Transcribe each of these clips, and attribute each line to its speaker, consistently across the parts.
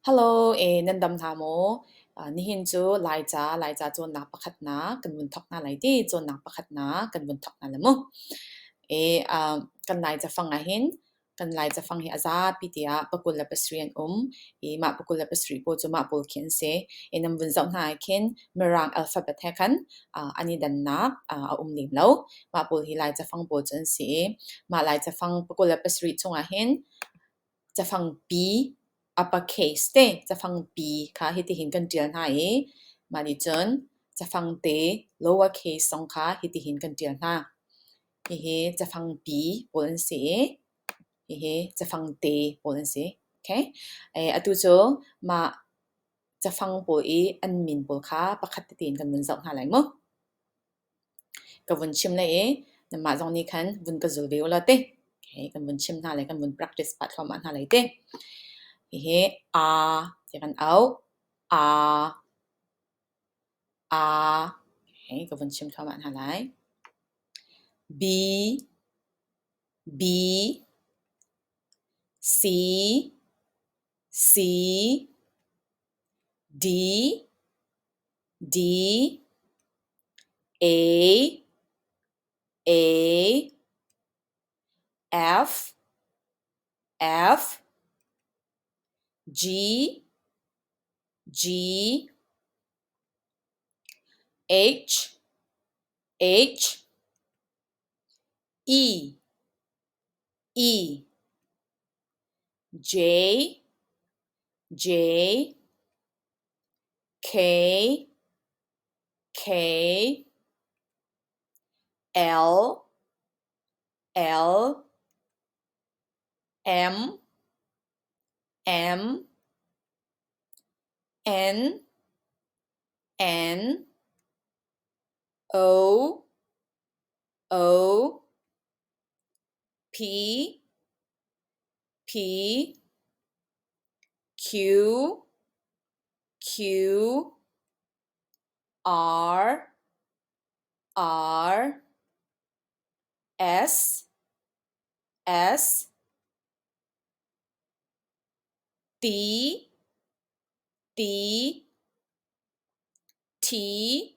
Speaker 1: Hello, nan dam hna maw? Nihin cu Laica, Laica cawnnak pakhatnak kan vun thawk hna lai ti. Cawnnak pakhatnak kan vun thawk hna lai mu. Kan Laicafang ahhin kan Laicafang hi a zapi tiah pakul le pasarih an um i mah pakul le pasarih pawl cu mah pawl khi an si. Nan vun zoh hna ahkhin Mirang alphabet he khan an i dannak a um lem lo. Mah pawl hi Laicafang pawl cu an si i mah Laicafang pakul le pasarih chung ahhin Cafangpi, upper case te cafangpi kha hitihin kan ṭial hna i mah nih cun cafangte lower case zong kha hitihin kan ṭial hna. Hihi cafangpi pawl an si i hihi cafangte pawl an si. Okay. Atu cu mah cafang pawl i an min pawl kha pakhat tein kan vun zoh hna lai mu. ka vun chim na i nanmah zong nih khan vun ka zul ve u law teh hihi kan vun chim hna le kan vun practice pah thluahmah hna lai teh. Hihi a ti kan auh. A a hihi ka vun chim thluahmah hna lai. B B C C D D A A F F G G H H E E J J K K L L M M N N O O phi phi q q r r s s t t t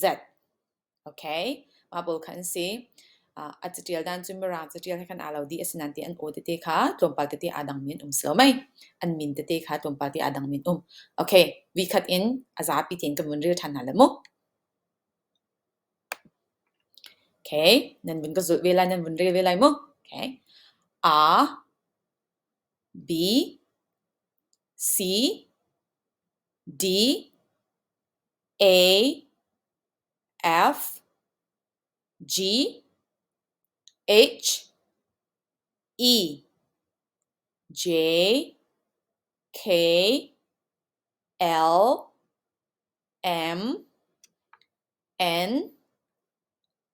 Speaker 1: Z. Okay, mah pawl kha an si. Uh, a catial dan cu mirang catial he khan aa lo dih asinain ti an aw tete kha tlawmpal tete aa dangmi an um silo mai. An min tete kha tlawmpal te aa dangmi an um. Okay, vi khat in a zapi tein kan vun ril ṭhan hna law mu. Okay, nan vun ka zulh ve lai, nan vun ril ve lai mu. Okay. A, B, C, D, A F G H E J K L M N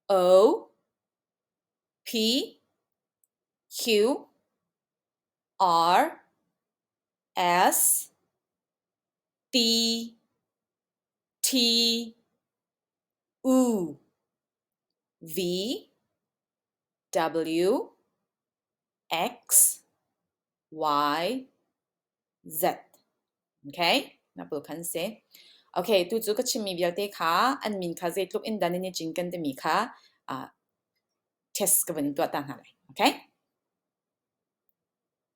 Speaker 1: O P Q R S T T U V W X Y Z okay 那不kan say okay tu cu ka chimmi vialte kha an min kha zeitluk in dan in i cinken timi kha ah test ka vun tuah ta hna lai okay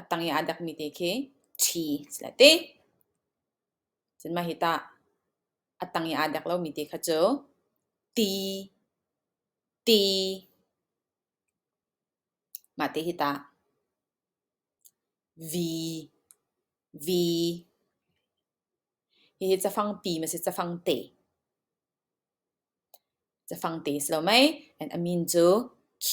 Speaker 1: a tang i aa dakmi te khi ṭhi si lai ti. Cun mah hi tah a tang i aa dek lomi te kha cu ti, ti, mah te hi tah vi, vi, hihi cafangpi ma si cafang te. Cafang te si lo mei, and a min cu Q.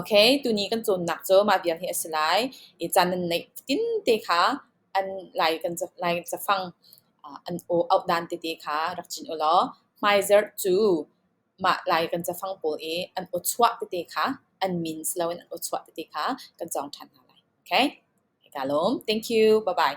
Speaker 1: Okay, tuni kan cawnnak cu mah vial hi a si lai. I caan nan neih tinte kha an lai kan ca- lai cafang ah an aw- auh dan tete kha rak cin u law hmaizarh cu mah lai kan cafang pawl i an aw chuah tete kha an means loin an aw chuah tete kha kan cawng ṭhan hna lai. Okay? Hei kaa lawm. Thank you. Bye-bye.